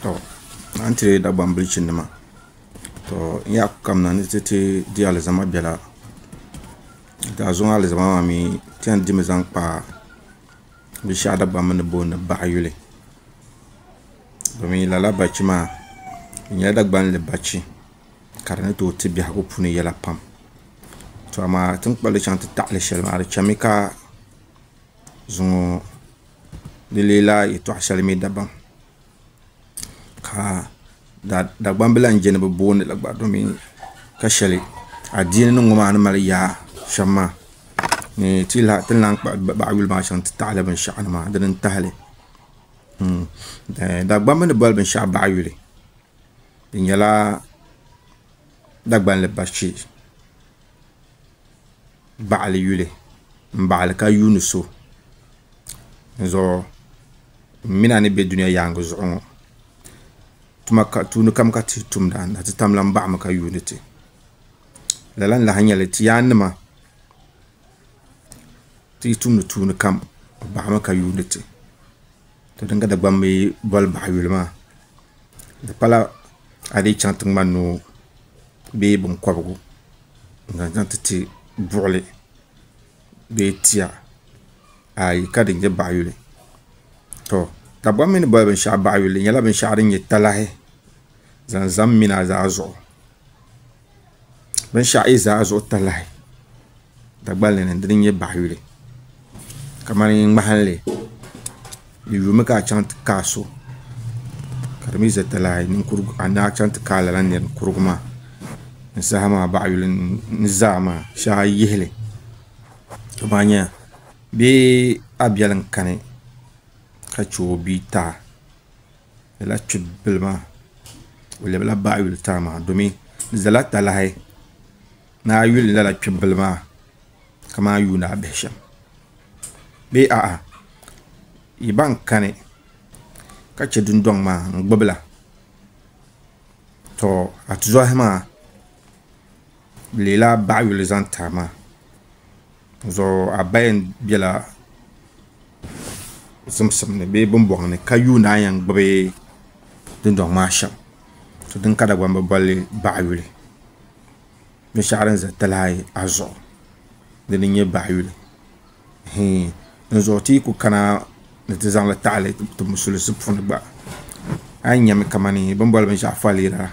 To a ni tiri Dagbaŋ bilichi nima to n yaa ku kamina ni ti ti di alizama biɛla daa zuŋɔ alizama maa mii ti yɛn dimi zaŋ kpa binshaɣu dabam ni booni baɣa yuli domin lala balichi maa di nyɛla Dagbanli balichi ka di ni tooi ti biɛhagu puuni yɛla pam to amaa ti ni kpulli chɛŋ ti taɣali shɛli maa di chɛmi ka zuŋɔ di leela yɛtɔɣ shɛli mi dabam ka Dagbambila n-je ni bɛ booni li gba domin ka shɛli adiini nima ŋɔ maa ni mali yaa shɛm maa ni ti ni lahi kpuɣi baɣa yuli maa shɛm nti tahili binshɛɣu ni maa dini n-tahi li Dagbamba ni boli binshɛɣu baɣa yuli di nyɛla Dagbani bachi. baɣili yuli m-baɣili ka yuuni so n-zuɣu m mi na ni be dunia yaaŋa zuɣu ŋɔ tuma tuuni kam ka ti tumda na ti tam lan baɣimi ka yuuni ti lala n-lahi nyɛli ti yaannima ti yi tumdi tuuni kam baɣimi ka yuuni ti. To din ka Dagbamb yi boli bahi yuli maa, di pala a dii chaŋ ti ŋma noo bee binkɔbigu n-zaŋ chaŋ ti ti buɣili bee tia ayi ka di nyɛ bahi yuli. To Dagbamb mi ni boli binshɛɣu bahi yuli di nyɛla binshɛɣu din nyɛ talahi zaŋ zam mina zaa zuɣu. binshɛɣu yi zaa zuɣu talahi Dagbani ni di dini nyɛ baɣa yuli kamani ŋmahanli di yumi ka a chaŋ ti kaai so ka di mii ʒɛ talahi ninkurigu a ni a chaŋ ti kaai lala ninkurigu maa ni saha maa baɣa yuli ni zaa maa shee a yi yihili ti mali nyɛla bee a biɛli n kani ka chɛ o bia tɛha lala kpibila maa o lɛbila baɣa yuli tana maa domi di zala talahi ni a yuli lala kpibila maa kamani a yuuni a bihi shɛm bee a'a yi ban kani ka che dundɔŋ maa n gbibila tɔ a tizɔhi maa. leela baɣa yuli zaŋ tahi ma zuɣu a ba yɛn bɛla zimsim ni bee binbɔŋ ni ka yuundi a ni yɛn gbubi dundɔŋ maa shɛm to din ka dagbaŋ bi bolli baɣa yuli binshɛɣu din ʒɛ talahi ayi ahi zuɣu dini n nyɛ baɣa yuli Hii, n zuɣu ti yi ku kana ni ti zaŋ li taɣili ti musulisi puni gba, a yi nyami kamani bini boli binshɛɣu faliira la,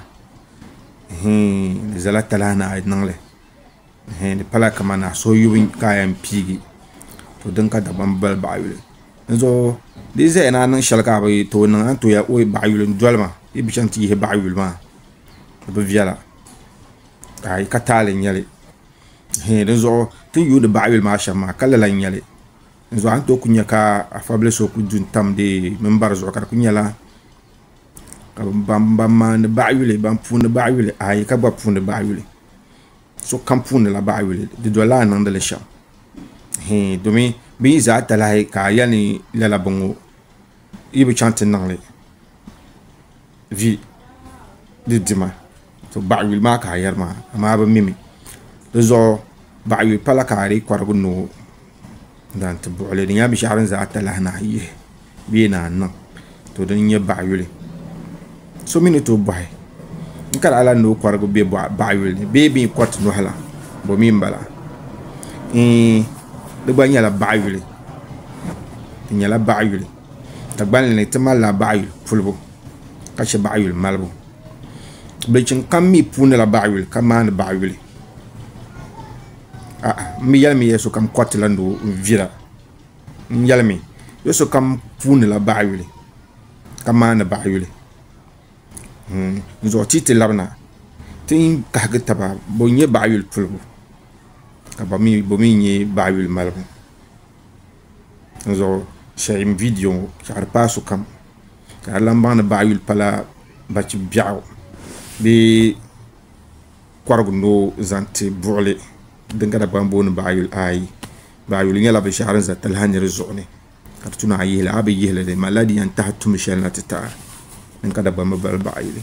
hii, di zala talahi ni a yi niŋ li, hii, di pala kamani a suhu yubu ka a yɛn piigi, to din ka Dagbamba boli baɣa yuli. N zuɣu, di yi zaya ni a niŋ shɛli ka a bi tooi niŋ, a ni tooi yɛli, Oi, baɣa yuli, n doli ma, yi bi chaŋ ti yihi baɣa yuli maa, di bi viɛla, ka a yi ka taali nyɛli. Hee di zuɣu ti ni yuuni baɣa yuli maa shɛm maa ka lala n-nyɛli di zuɣu a ni tooi ku nya ka afabili so ku du n-tam di mimbari zuɣu ka di ku nyɛla ka ban maani baɣa yuli ban puuni baɣa yuli ayi ka gba puuni baɣa yuli sokam puunila baɣa yuli di dolila a niŋdi li shɛm hee domi bɛ yi za talahi ka a yɛli ni lala bɔŋɔ yi bi chaŋ ti niŋ li vi di dima to baɣa yuli maa ka a yɛri maa amaa bi mimi di zuɣu baɣa yuli pala ka a dii kɔrigi ni o zaŋ ti buɣuli di nyɛla binshaɣu din za atalahi ni a yihi bee ni a niŋ to din nyɛ baɣa yuli so mi ni tooi bɔhi n kari a la ni o kɔrigi bɛ baɣa yuli ni bee bɛ kɔriti nɔhi la bɔ mi n bala di gba nyɛla baɣa yuli di nyɛla baɣa yuli. Dagbani ni ti malila baɣayuli pulibu ka chɛ baɣayuli malibu bilichim kam mii puunila baɣayuli ka maandi baɣayuli a'a n bi yɛlimi ya sokam koritila ni o vira n yɛlimi ya sokam puunila baɣayuli ka maandi baɣayuli dinzuɣu ti yi ti labina ti ni kahigi taba bɔ n-nyɛ baɣayuli pulibu ka bɔ mii nyɛ baɣayuli malibu di zuɣu salin gbiribi ŋo ka di paai sokam ka di lahi baŋ ni bahi yuli pala bachi biɛɣu bee korigu ni o zaŋ ti buɣuli din kana gbambo ni bahi yuli ayi bahi yuli nyɛla binshaɣu din ʒɛ taha nira zuɣu ni ka di tuna a yi yihili a bi yihili di malila di yɛn tahi tuun shɛli na ti tiɛha din kana gbambo bali bahi yuli